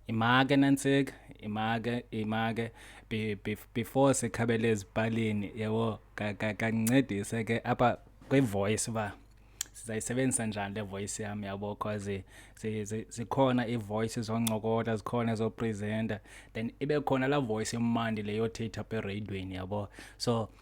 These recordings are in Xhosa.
imake nantsika imake imake before sikhabele ezipalini yebo kancedise ke apha kwi-voice uba sizayisebenzisa njani le voice yam yabo cause zikhona ii-voice zoncokola zikhona ezopresenta then ibe khona laa voice emandi leyothetha apha ereyidweni yabo so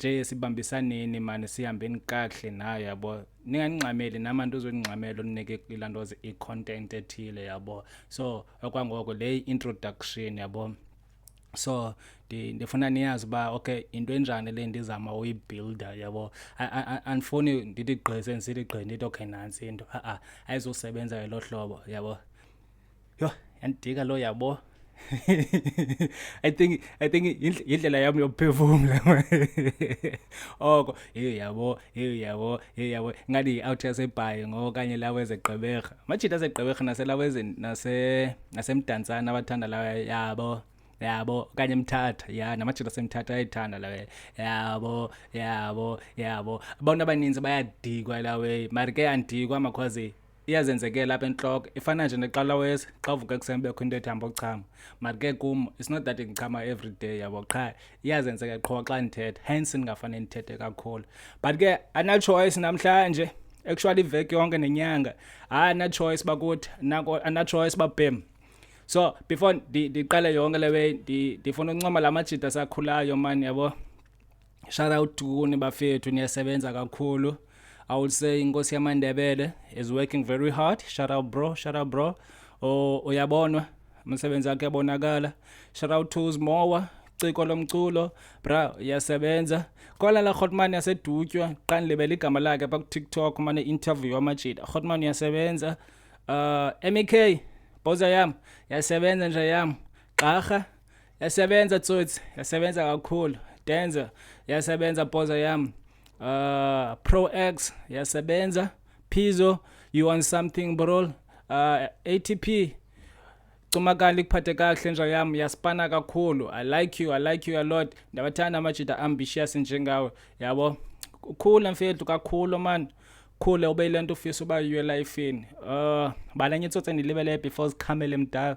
nje sibambisaneni mani sihambeni kakuhle nayo yabo ningandingxameli namantu uzondingxamela ondinike ilaa nto i-content ethile yabo so okwangoko le introduction yabo so ndifuna niyazi uba okay into enjani le ndizama uyibuilda yabo andifuni ndithi gqise ndisithi gqi ndithi okay nantsi into a-a ayizosebenza ngelo hlobo yabo yho yandidika lo yabo i think i think yindlela yam yokuphefumla oko heyi yabo heyi yabo heyi yabo ingathi yi-out yasebhayi ngokanye lawo ezegqeberha amajita asegqeberha naselawo nasemdantsana abathanda lawo yabo yabo okanye emthatha ya namajita asemthatha ayayithanda lawe yabo yabo yabo abantu abaninzi bayadikwa lawe mari ke yandikwa amakhwazi iyazenzekela apha entloko ifana nje neqalawesi xa uvuka ekuseni bekho into ethamba ukuchama but ke kum it's not that ndichama every day yabo qha iyazenzeka qho xa ndithetha hence ndingafane ndithethe kakhulu but ke anachoice namhlanje actually iveki yonke nenyanga hayi anachoice bakuthi anachoice babhem so before ndiqale yonke le way ndifuna uncoma la majida sakhulayo mani yabo shout out to kuni bafethu niyasebenza kakhulu i would say inkosi yamandebele is working very hard shout out bro shout out bro oh, uyabonwa umsebenzi wakhe yabonakala shout out to zimowa ciko lomculo bra uyasebenza kola la hotman yasedutywa qanilibela igama lakhe pha kutiktok umane interview amajita hotman uyasebenza uh mk boza yam yasebenza nje yam gxarha yasebenza tsotsi yasebenza kakhulu denza yasebenza poza yam uh, pro x yasebenza pizo you want something brol uh, atp cumakani likuphathe kakuhle nja yam yasipana kakhulu i like you i like you a lot ndabathanda amajida ambitious njengawe yabo ukhule mfethu kakhulu mani khule ube yile nto ufisa uba yiyo elifini um uh, balanye itsotse ndilibele before zikhamele mdala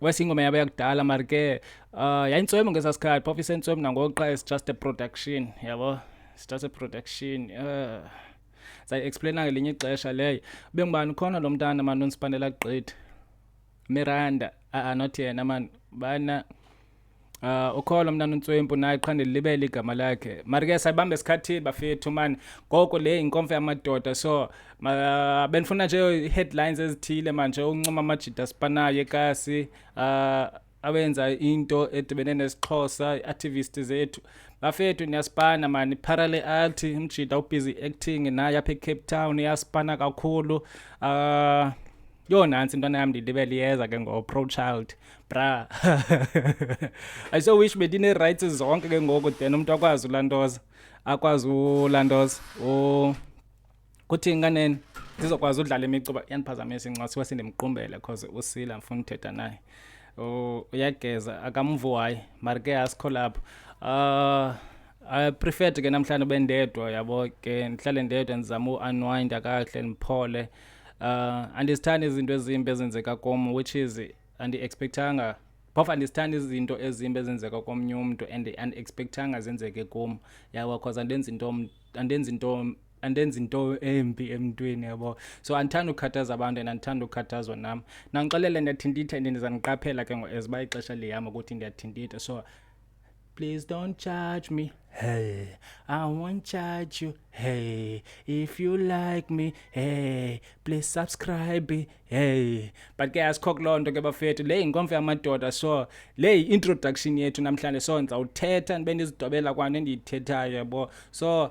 wesingoma yaba yakudala mari ke uh, yayintswemo ngesaa sikhathi phofu isentswemo nangokuqa is just a production yabo it's just a production uh, sayi-explaina ngelinye ixesha leyo ube ngubani ukhona lo mntana mani onsipandela gqitha miranda aa ah, ah, not yena mani bana Uh, ah, ukholo mna nontswempu naye qha ndilibele igama lakhe mari ke sayibambe esikhathini bafethu mani ngoko le yinkomfa yamadoda so uh, bendifuna nje ii-headlines ezithile manje uncoma amajida sipanayo ekasi uh, ah, awenza into edibene nesixhosa i-activist zethu bafethu niyasipana mani parale alti umjida ubusy acting naye apha ecape town iyasipana kakhulu um uh, yho nantsi intwana yam ndilibe liyeza ke ngo-pro child bra i so wish bendinee-rights zonke ke ngoku then umntu akwazi ulantoza akwazi ulantoza kuthi nganeni ndizokwazi udlala imicuba yandiphazamisa incwasi siwa sindimqumbele because usila ndifuna uthetha naye uyageza akamvu wayi mari ke asikho lapho um I preferred ke namhlanje ube ndedwa yabo ke ndihlale ndedwa ndizama u-unwind akahle ndiphole uh, andizithandi izinto ezimbi ezenzeka kum which is andiexpectanga phofu andizithandi izinto ezimbi ezenzeka komnye umntu and andiexpectanga zenzeke kum yabo cause andenzi into andenzi into andenzi into embi emntwini yabo so andithanda ukukhathaza abantu and andithanda ukukhathazwa nam nangixelele ndiyathintitha and ndizandiqaphela ke ngoku as uba ixesha lihamba ukuthi ndiyathintitha so Please don't charge me. Hey, I won't charge you. Hey, if you like me, hey, please subscribe. Hey, but ke asikho kuloo nto ke bafethu le yinkomfa yamadoda so le yi-introduction yethu namhlanje so ndizawuthetha ndibe ndizidobela kwanto endiyithethayo yabo so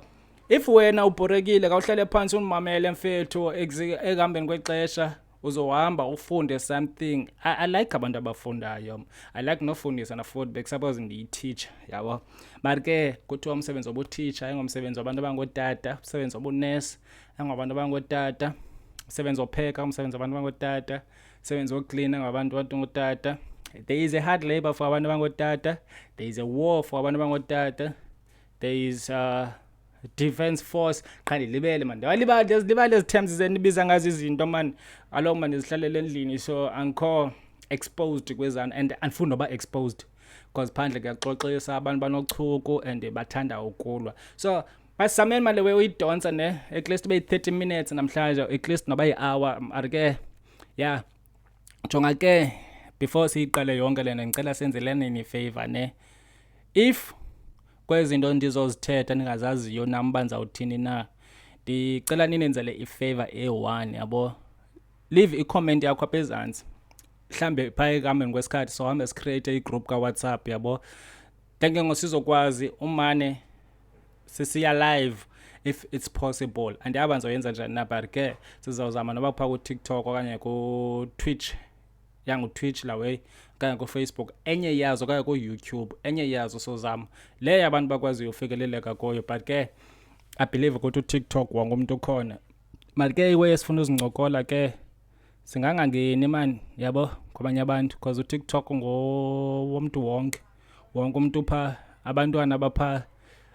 if wena ubhorekile kawuhlale phantsi undimamele mfethu ekuhambeni kwexesha uzohamba ufunde something I, i like abantu abafundayo i like nofundisa nafuthi bekusuppose ndiyititsha yabo but ke kuthiwa umsebenzi wobutitsha engomsebenzi wabantu abangootata umsebenzi wobunesi engabantu abangootata umsebenzi wopheka umsebenzi wabantu abangootata umsebenzi woklina ngabantu abantu ngootata there is a hard labor for abantu abangootata there is a war for abantu abangootata there is uh, defense force qha ndilibele mani ndiyalibala ndiyazilibala lezi terms zendibiza ngazo izinto mani aloo mani ndizihlalele endlini so angikho exposed kwezana and andifuni noba exposed because phandle kuyaxoxisa abantu banochuku and bathanda ukulwa so basameni mali we uyidonsa ne at least be 30 minutes namhlanje at least noba yi-hour ari ke ya jonga ke before siyiqale yonke lena ngicela senzeleni ni-favor ne if kwezi nto ndizozithetha ndingazaziyo nam uba ndizawuthini na ndicela ninenzele ifavor eyi-one yabo leave icomment yakho apha ezantsi mhlawumbe phaa ekuhambeni kwesikhathi sohambe sicreate igroup kawhatsapp yabo then ke ngosizokwazi umane sisiya live if it's possible andiyaba ndizoyenza njani na but ke sizawuzama noba phaa kutiktok okanye kutwitch yangutwitch laway okanye kufacebook enye yazo okanye kuyoutube enye yazo sozam leyo abantu bakwaziyo ufikeleleka kuyo but ke i believe ukuthi utiktok wangumntu ukhona mali ke iweye sifuna uzincokola ke singangangeni mani yabo kwabanye abantu because utiktok ngowomntu wonke wonke umntu phaa abantwana baphaa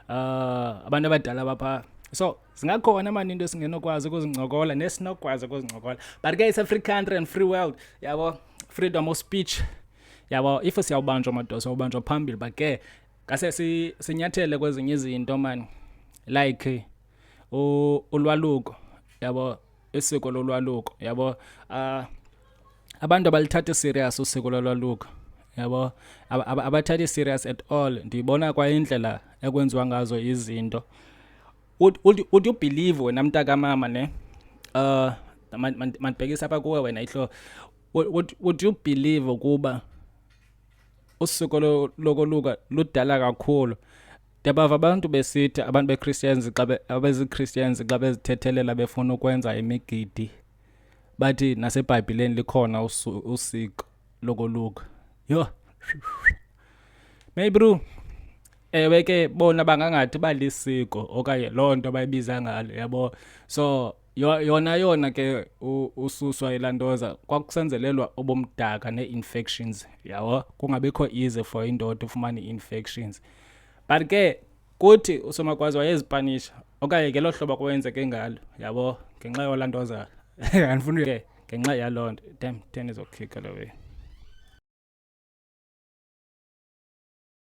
uh, ah, abantu abadala baphaa so zingakhona mani into esingenokwazi ukuzincokola nesinokwazi ukuzincokola but ke it's a free country and free world yabo freedom of speech yabo if siyawubanjwa madoda siyawubanjwa phambili but ke ngase sinyathele kwezinye izinto mani like ulwaluko yabo isiko lolwaluko yabo uh, abantu abalithathi serious usiko lolwaluko yabo abathathi serious at all ndiyibona kwayindlela ekwenziwa ngazo izinto uthi ubhilive wena mntakamama ne um mandibhekisa apha kuwe wena ihlo would you believe ukuba usuku lokoluka ludala kakhulu Ndiyabava abantu besithi abantu beChristians xa abeziChristians xa bezithethelela befuna ukwenza imigidi bathi naseBhayibhileni likhona usiko lokoluka. Yho. Maybe bro ewe ke bona bangangathi balisiko okanye loo nto bayibiza ngalo yabo so Yo- yona yona ke u- ususwa ilantoza kwakusenzelelwa obomdaka nee-infections yawo kungabikho easy for indoda ufumane i-infections but ke kuthi usomakwazi wayezipanisha okanye ngelo hlobo kwenzeke ngalo yabo ngenxa yolantoza andifuni ke ngenxa yaloo nto dem ten izokhika lo wenu